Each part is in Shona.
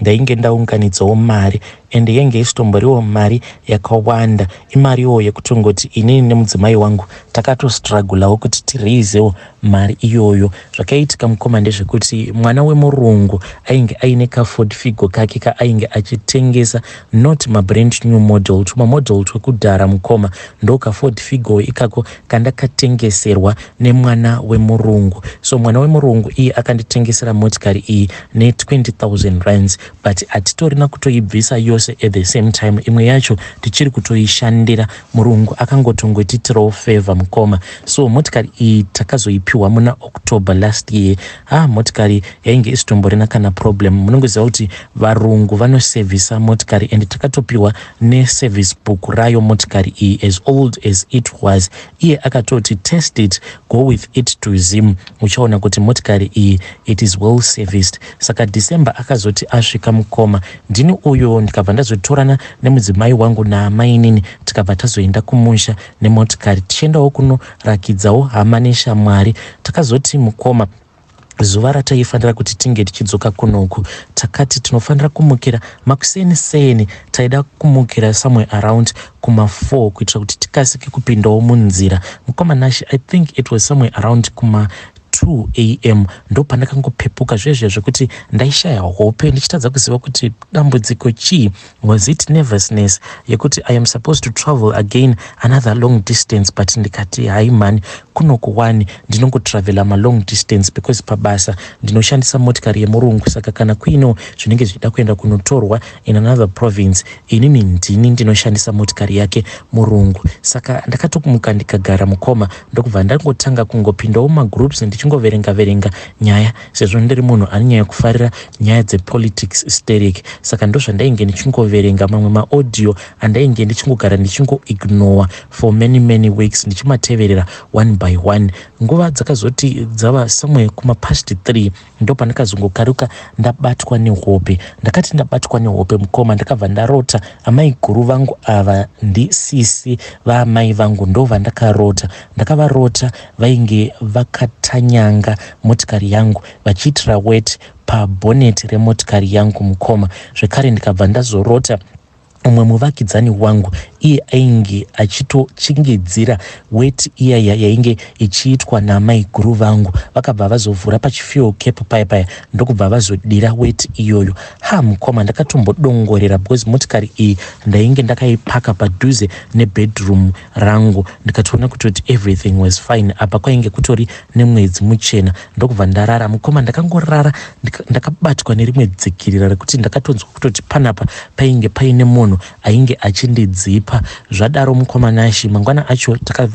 ndainge ndaunganidzawo mari and yenge isitomboriwo mari yakawanda imariwo yekutongoti inini nemudzimai wangu takatostragulawo kuti tiraisewo mari iyoyo zvakaitika mukoma ndezvekuti mwana wemurungu ainge aine kaford figo kake kaainge achitengesa not mabrand new model tuma model twekudhara mukoma ndokaford figo ikako kandakatengeserwa nemwana wemurungu so mwana wemurungu iye akanditengesera motikari iyi ne20000 rands but hatitorina kutoibvisa yose at the same time imwe yacho tichiri kutoishandira murungu akangotongotiitirawo favor mukoma so motikari iyi takazoipiwa muna october last year Haa motikari yainge isitomborina kana problem munongoziva kuti varungu vanosevhisa motikari and takatopiwa neservice book rayo motikari iyi as old as it was iye akatoti test it go with it to zim uchaona kuti motikari iyi it is well serviced saka december akazoti asvika mukoma ndini uyo ndikabva ndazotorana nemudzimai wangu naamainini tikabva tazoenda kumusha nemotikari tichiendawo kuno Rakidzawo hama neshamwari. Takazoti, Mukoma, zuva rataifanira kuti tinge tichidzoka kunoku takati tinofanira kumukira makuseni seni taida kumukira somewhere around kuma4 kuitira kuti tikasike kupindawo munzira mukoma nashi i think it was somewhere around kuma 2 am ndopandakangopepuka zviye zviya zvekuti ndaishaya hope ndichitadza kuziva kuti dambudziko chii Was it nervousness yekuti I am supposed to travel again another long distance but ndikati hayi mhani kunoku wani ndinongotravela malong distance because pabasa ndinoshandisa motikari yemurungu saka kana kuinewo zvinenge zvichida kuenda kunotorwa in another province inini ndini ndinoshandisa motikari yake murungu saka ndakatokumuka ndikagara mukoma ndokubva ndangotanga kungopindawo mumagroups ndichingoverenga verenga nyaya sezvo ndiri munhu ane nyaya yekufarira nyaya dzepolitics steric saka ndozvandainge ndichingoverenga mamwe maaudio andainge ndichingogara ndichingoignore for many many weeks ndichimateverera one by one nguva dzakazoti dzava somewhere kumapast three ndo pandakazongokaruka ndabatwa nehope ndakati ndabatwa nehope mukoma ndakabva ndarota amai guru vangu ava ndisisi vaamai vangu ndo vandakarota ndakavarota vainge vakatanyanga motikari yangu vachiitira wet pabhoneti remotikari yangu mukoma zvekare ndikabva ndazorota umwe muvakidzani wangu iye ainge achitochingidzira weti iyaya yainge ichiitwa namaiguru vangu vakabva vazovhura pachifuel cap paya paya ndokubva vazodira weti iyoyo ha mukoma ndakatombodongorera because motikari iyi ndainge ndakaipaka padhuze nebedroom rangu ndikatoona kutoti everything was fine apa kwainge kutori nemwedzi muchena ndokubva ndarara mukoma ndakangorara ndakabatwa nerimwe dzikirira rekuti ndakatonzwa kutoti panapa painge paine munhu ainge achindidzipa zvadaro mukoma nashi mangwana acho taka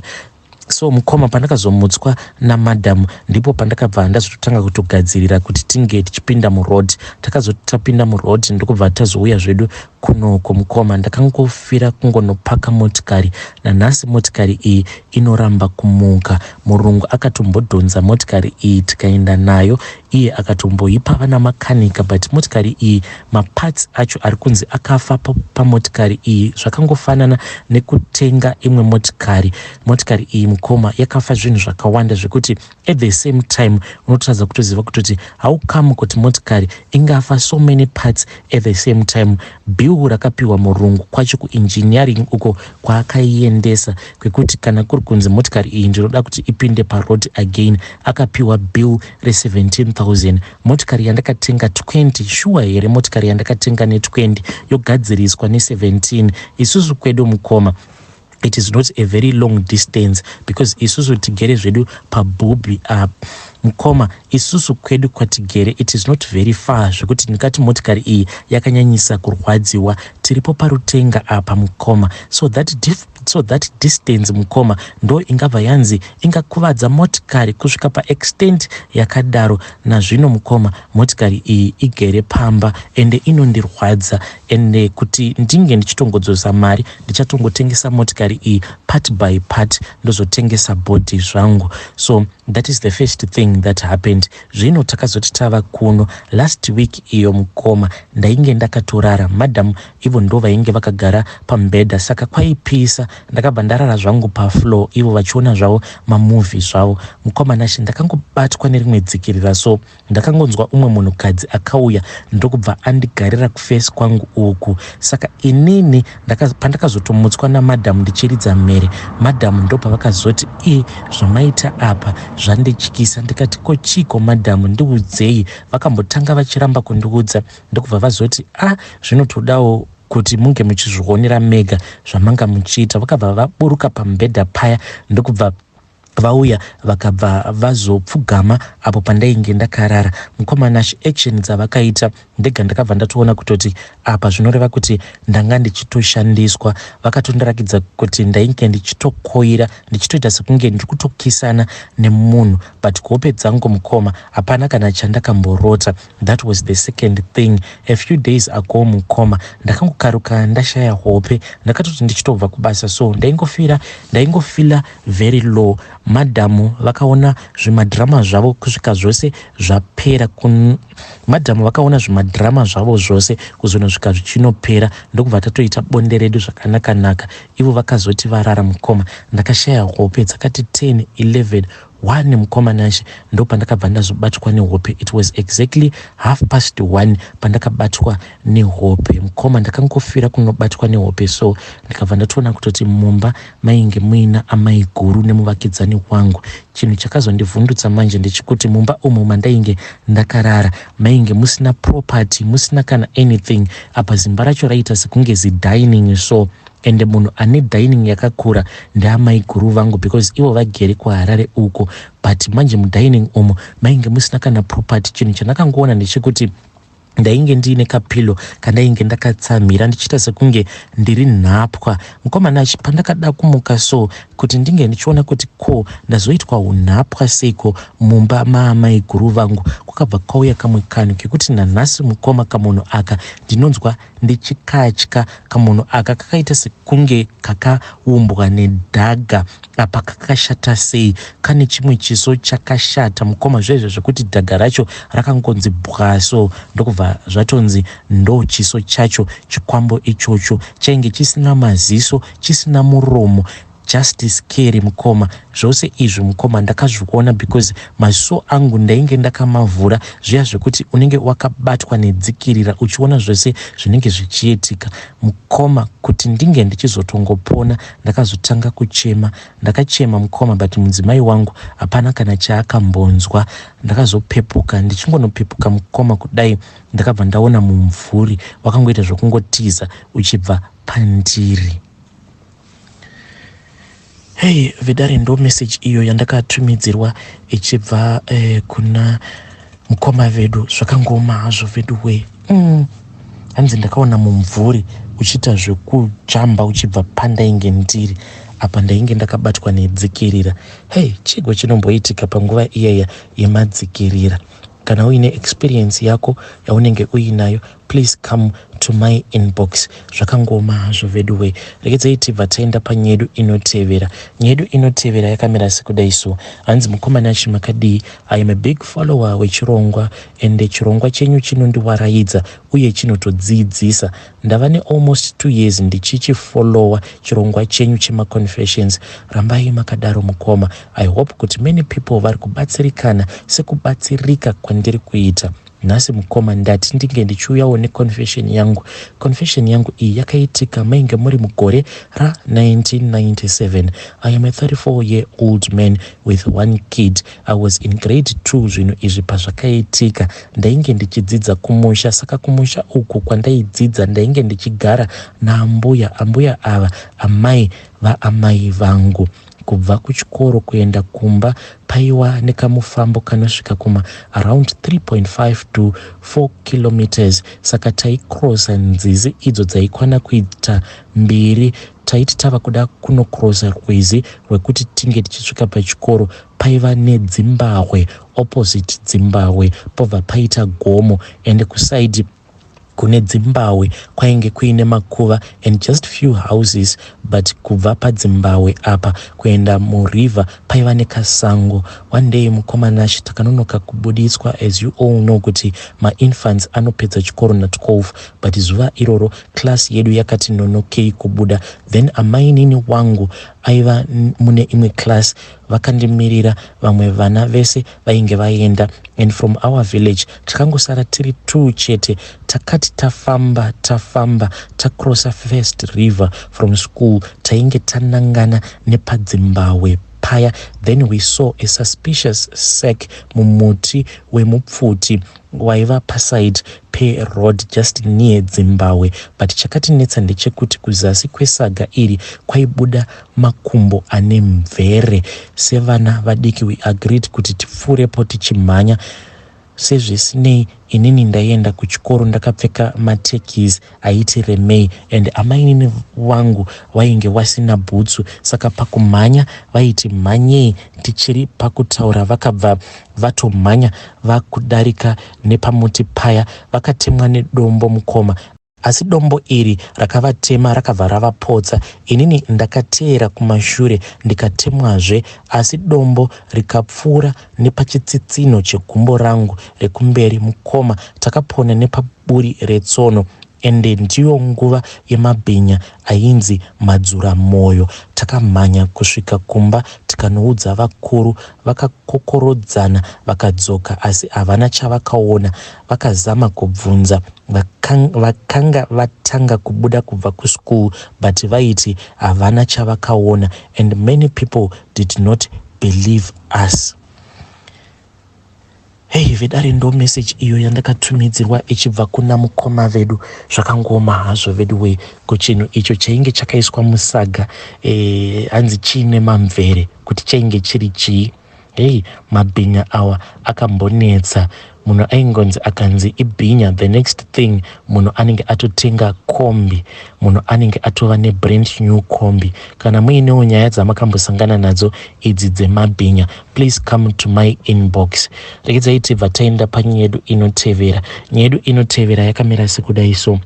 so mukoma pandakazomutswa namadam ndipo pandakabva ndazototanga kutogadzirira kuti tinge tichipinda muroad takazoti tapinda muroad ndokubva tazouya zvedu Kunoko mukoma ndakangofira kungonopaka motikari nanhasi motikari iyi inoramba kumuka. Murungu akatombodhonza motikari iyi tikaenda nayo iye akatomboipa vana makanika but motikari iyi maparts acho ari kunzi akafa pamotikari iyi zvakangofanana nekutenga imwe motikari. Motikari iyi mukoma yakafa zvinhu zvakawanda zvekuti at the same time unotadza kutoziva kutoti how come kuti motikari ingafa so many parts at the same time bill rakapiwa murungu kwacho kuengineering uko kwaakaiendesa kwekuti kana kuri kunzi motikari iyi ndinoda kuti ipinde paroad again akapiwa bill re17000 motikari yandakatenga 20 shuwa here motikari yandakatenga ne20 yogadziriswa ne17 isusu kwedu mukoma it is not a very long distance because isusu tigere zvedu pabhubhi up mukoma isusu kwedu kwatigere it is not very far zvekuti ndikati motikari iyi yakanyanyisa kurwadziwa tiripo parutenga apa mukoma so that dif so that distance mukoma ndo ingabva yanzi ingakuvadza motikari kusvika paextent yakadaro nazvino mukoma motikari iyi igere pamba ende inondirwadza ende kuti ndinge ndichitongodzosa mari ndichatongotengesa motikari iyi part by part ndozotengesa body zvangu so that is the first thing that happened zvino takazoti tava kuno last week iyo mukoma ndainge ndakatorara madam ivo ndo vainge vakagara pambhedha saka kwaipisa ndakabva ndarara zvangu pafloor ivo vachiona zvavo mamovhi zvavo mukoma nashe ndakangobatwa nerimwe dzikirira so Ndakangonzwa umwe munhukadzi akauya ndokubva andigarira kufesi kwangu uku. Saka inini ndaka, pandakazotomutswa namadhamu ndichiridza mhere, madhamu ndopavakazoti i zvamaita apa zvandityisa. Ndikati ko chiko madhamu ndiudzei. Vakambotanga vachiramba kundiudza ndokubva vazoti a ah, zvinotodawo kuti munge muchizvionera mega zvamanga muchiita. Vakabva vaburuka pamubhedha paya ndokubva Vauya vakabva vazopfugama apo pandainge ndakarara. Mukoma Nash action dzavakaita ndega ndakabva ndatoona kutoti apa zvinoreva kuti ndanga ndichitoshandiswa. Vakatondirakidza kuti ndainge ndichitokoira ndichitoita sekunge ndiri kutokisana nemunhu but kuhope dzangu mukoma hapana kana chandakamborota. That was the second thing. A few days ago mukoma ndakangokaruka ndashaya hope ndakatoti ndichitobva kubasa so ndaingofira ndaingofila very low madam vakaona zvimadrama zvavo kusvika zvose zvapera kun madam vakaona zvimadrama zvavo zvose kuzonosvika zvichinopera ndokubva tatoita bonde redu zvakanakanaka ivo vakazoti varara mukoma ndakashaya hope dzakati 10 11 one mukoma nashe ndo pandakabva ndazobatwa nehope it was exactly half past one pandakabatwa nehope mukoma ndakangofira kunobatwa nehope so ndikabva ndatoona kutoti mumba Mainge muina amaiguru nemuvakidzani wangu. Chinhu chakazondivhundutsa manje ndechekuti mumba umu mandainge ndakarara mainge musina property, musina kana anything. Apa zimba racho raiita sekunge zidining so ende munhu ane dining yakakura ndeamaiguru vangu because ivo vagere kuharare uko but manje mudining umu mainge musina kana property chinhu chandakangoona ndechekuti ndainge ndiine kapilo kandainge ndakatsamhira ndichiita sekunge ndiri nhapwa mukomana achi pandakada kumuka so kuti ndinge ndichiona kuti ko ndazoitwa unhapwa seiko mumba maamai guru vangu kwakabva kwauya kamwe kanhu kekuti nanhasi mukoma kamunhu aka ndinonzwa ndichikatya kamunhu aka kakaita sekunge kakaumbwa nedhaga Apa kakashata sei kane chimwe chiso chakashata mukoma zvezve zvekuti dhadha racho rakangonzi bwa so ndokubva zvatonzi ndo chiso chacho chikwambo ichocho chainge chisina maziso chisina muromo just scary mukoma zvose izvi mukoma ndakazviona because maziso angu ndainge ndakamavhura zviya zvekuti unenge wakabatwa nedzikirira uchiona zvese zvinenge zvichiitika mukoma kuti ndinge ndichizotongopona Ndakazotanga kuchema. Ndakachema mukoma but mudzimai wangu hapana kana chaakambonzwa. Ndakazopepuka ndichingonopepuka mukoma kudai ndakabva ndaona mumvuri wakangoita zvokungotiza uchibva pandiri. Hey Vedare ndo message iyo yandakatumidzirwa ichibva eh, kuna Mkoma vedu zvakangooma hazvo vedu wee mm. hanzi ndakaona mumvuri uchiita zvekujamba uchibva pandainge ndiri apa ndainge ndakabatwa nedzikirira hei chigo chinomboitika panguva iyaya yemadzikirira kana uine experience yako yaunenge uinayo Please come to my inbox zvakangooma hazvo veduwe regedzai tibva taenda panyedu inotevera nyedu inotevera yakamira sekudai so hanzi mukomana achi makadii i am a big follower wechirongwa ende chirongwa chenyu chinondiwaraidza uye chinotodziidzisa ndava nealmost two years ndichichifollowa chirongwa chenyu chemaconfessions rambai makadaro mukoma i hope kuti many people vari kubatsirikana sekubatsirika kwandiri kuita Nhasi mukoma ndati ndinge ndichiuyawo neconfession yangu. Confession yangu iyi yakaitika mainge muri mugore ra 1997. I am a 34 year old man with one kid. I was in grade 2 zvinhu izvi pazvakaitika. Ndainge ndichidzidza kumusha saka kumusha uku kwandaidzidza ndainge ndichigara naambuya. Ambuya ava amai vaamai vangu. Kubva kuchikoro kuenda kumba paiwa nekamufambo kanosvika kuma around 3.5 to 4 kilometres saka taicrossa nzizi idzo dzaikwana kuita mbiri. Taiti tava kuda kunocrossa rwizi rwekuti tinge tichisvika pachikoro paiva nedzimbahwe opposite dzimbahwe pobva paita gomo ende kusaidi kune dzimbawe kwainge kuine makuva and just few houses but kubva padzimbawe apa kuenda muriver paiva nekasango one day mukoma nashe takanonoka kubuditswa as you all know kuti mainfants anopedza chikoro na 12 but zuva iroro class yedu yakati nonokei kubuda then amainini wangu aiva mune imwe class vakandimirira vamwe vana vese vainge vaenda and from our village tikangosara tiri two chete takati tafamba tafamba tacrossa first river from school tainge tanangana nepadzimbawe paya then we saw a suspicious sack mumuti wemupfuti waiva paside peroad just near dzimbawe but chakatinetsa ndechekuti kuzasi kwesaga iri kwaibuda makumbo ane mvere sevana vadiki we agreed kuti tipfuurepo tichimhanya sezvisinei inini ndaienda kuchikoro ndakapfeka matekis aiti remei and amainini vangu vainge vasina bhutsu saka pakumhanya vaiti mhanyei tichiri pakutaura vakabva vatomhanya vakudarika nepamuti paya vakatemwa nedombo mukoma asi dombo iri rakavatema rakabva ravapotsa inini ndakateera kumashure ndikatemwazve asi dombo rikapfuura nepachitsitsinho chegumbo rangu rekumberi mukoma takapona nepaburi retsono ende ndiyo nguva yemabhinya ainzi madzura moyo takamhanya kusvika kumba tikanoudza vakuru vakakokorodzana vakadzoka asi havana chavakaona vakazama kubvunza vakanga vatanga kubuda kubva kuschool but vaiti havana chavakaona and many people did not believe us hei vedare ndo message iyo yandakatumidzirwa ichibva kuna mukoma vedu zvakangooma hazvo veduwee ko chinhu icho chainge chakaiswa musaga eh, hanzi e, chiine mamvere kuti chainge chiri chii Hey, mabhinya awa akambonetsa munhu aingonzi akanzi ibhinya the next thing munhu anenge atotenga kombi munhu anenge atova nebrand new kombi kana muinewo nyaya dzamakambosangana nadzo idzi dzemabhinya please come to my inbox rekedzaitibva taenda panyaya yedu inotevera nyaya yedu inotevera yakamira sekudai so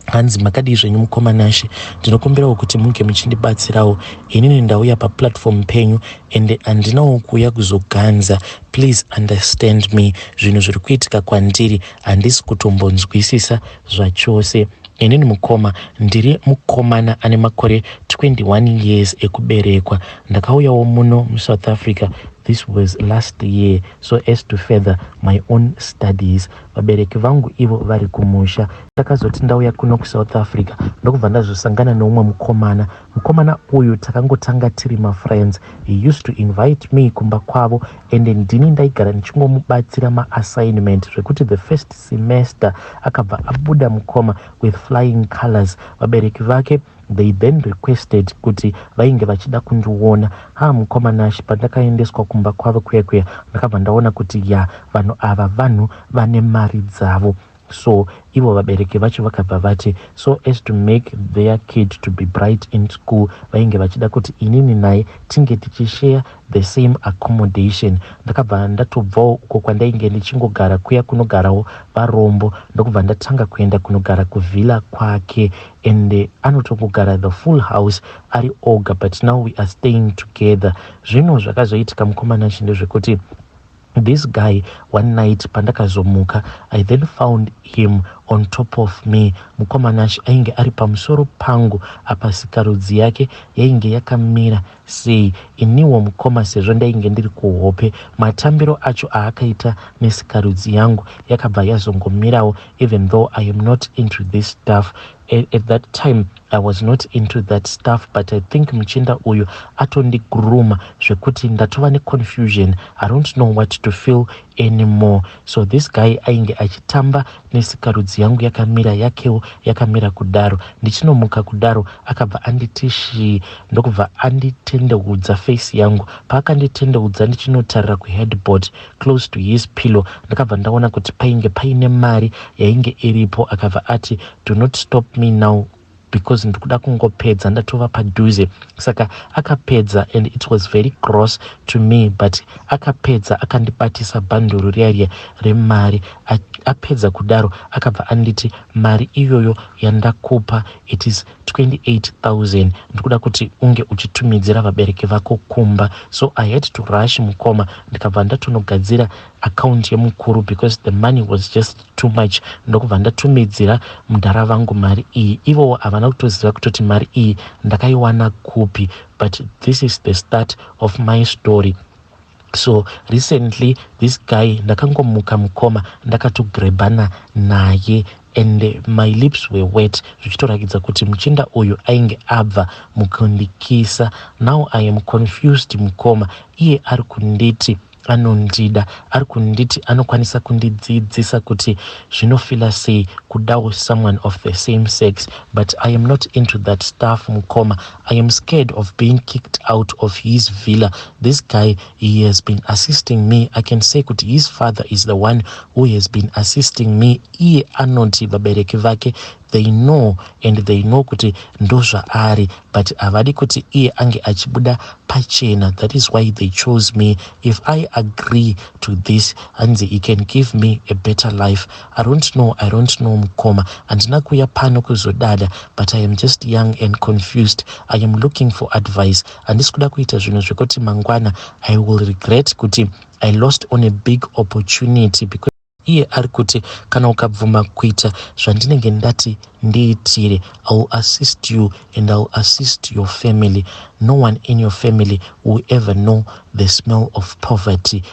hanzi makadii zvenyu mukoma nashe ndinokumbirawo kuti muge muchindibatsirawo inini ndauya paplatform penyu ende handinawo kuuya kuzoganza please understand me zvinhu zviri kuitika kwandiri handisi kutombonzwisisa zvachose inini mukoma ndiri mukomana ane makore 21 years ekuberekwa ndakauyawo muno musouth africa this was last year so as to further my own studies vabereki vangu ivo vari kumusha Ndakazoti ndauya kuno kuSouth Africa ndokubva ndazosangana neumwe mukomana. Mukomana uyu takangotanga tiri mafriends. He used to invite me kumba kwavo ende ndini ndaigara ndichingomubatsira maassignment zvekuti the first semester akabva abuda mukoma with flying colors. Vabereki vake they then requested kuti vainge vachida kundiona. Haa mukoma Nash pandakaendeswa kumba kwavo kuya kuya ndakabva ndaona kuti ya vanhu ava vanhu vane mari dzavo. So ivo vabereki vacho vakabva vati so as to make their kid to be bright in school vainge vachida kuti inini naye tinge tichishare the same accommodation. Ndakabva ndatobvawo uko kwandainge ndichingogara kuya kunogarawo varombo ndokubva ndatanga kuenda kunogara kuvhila kwake and anotongogara the full house ari oga but now we are staying together. Zvino zvakazoitika mukomana chinde zvekuti This guy one night pandakazomuka I then found him on top of me mukoma Nash ainge ari pamusoro pangu apa sikarudzi yake yainge yakamira sei iniwo mukoma sezvo ndainge ndiri kuhope matambiro acho aakaita nesikarudzi yangu yakabva yazongomirawo even though I am not into this stuff at, at that time I was not into that stuff but I think muchinda uyu atondigrooma zvekuti ndatova neconfusion I don't know what to feel anymore so this guy ainge achitamba nesikarudzi yangu yakamira yakewo yakamira kudaro ndichinomuka kudaro akabva anditi shii ndokubva anditendeudza face yangu paakanditendeudza ndichinotarira kuheadboard close to his pillow ndakabva ndaona kuti painge paine mari yainge iripo akabva ati do not stop me now because ndikuda kungopedza ndatova padhuze saka akapedza and it was very gross to me but akapedza akandibatisa bhanduru riya riya remari apedza kudaro akabva anditi mari iyoyo yandakupa it is 28000 ndikuda kuti unge uchitumidzira vabereki vako kumba so i had to rush mukoma ndikabva ndatonogadzira account yemukuru because the money was just too much ndokubva ndatumidzira mudhara vangu mari iyi ivowo havana kutoziva kutoti mari iyi ndakaiwana kupi but this is the start of my story So recently this guy ndakangomuka mukoma ndakatogrebana naye and my lips were wet zvichitorakidza kuti muchinda uyu ainge abva mukundikisa now i am confused mukoma iye ari kunditi anondida ari kunditi anokwanisa kundidzidzisa kuti zvinofila sei kudawo someone of the same sex but i am not into that stuff mukoma I am scared of being kicked out of his villa. This guy, he has been assisting me. I can say kuti his father is the one who has been assisting me. Iye anoti vabereki vake they know and they know kuti ndozvaari but havadi kuti iye ange achibuda pachena that is why they chose me if i agree to this hanzi he can give me a better life I don't know, I don't know mkoma. Handina kuya pano kuzodada but I am just young and confused. I am looking for advice. Handisi kuda kuita zvinhu zvekuti mangwana I will regret kuti I lost on a big opportunity because iye ari kuti kana ukabvuma kuita zvandinenge ndati ndiitire iwill assist you and iwill assist your family no one in your family will ever know the smell of poverty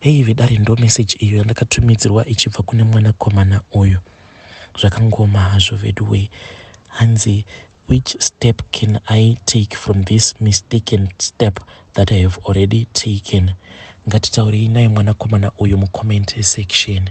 Hey vedare ndomessage iyo yandakatumidzirwa ichibva kune mwanakomana uyu. Zvakangoma hazvo veduwee. Hanzi which step can I take from this mistaken step that I have already taken? Ngatitaurei naye mwanakomana uyu mucomment section.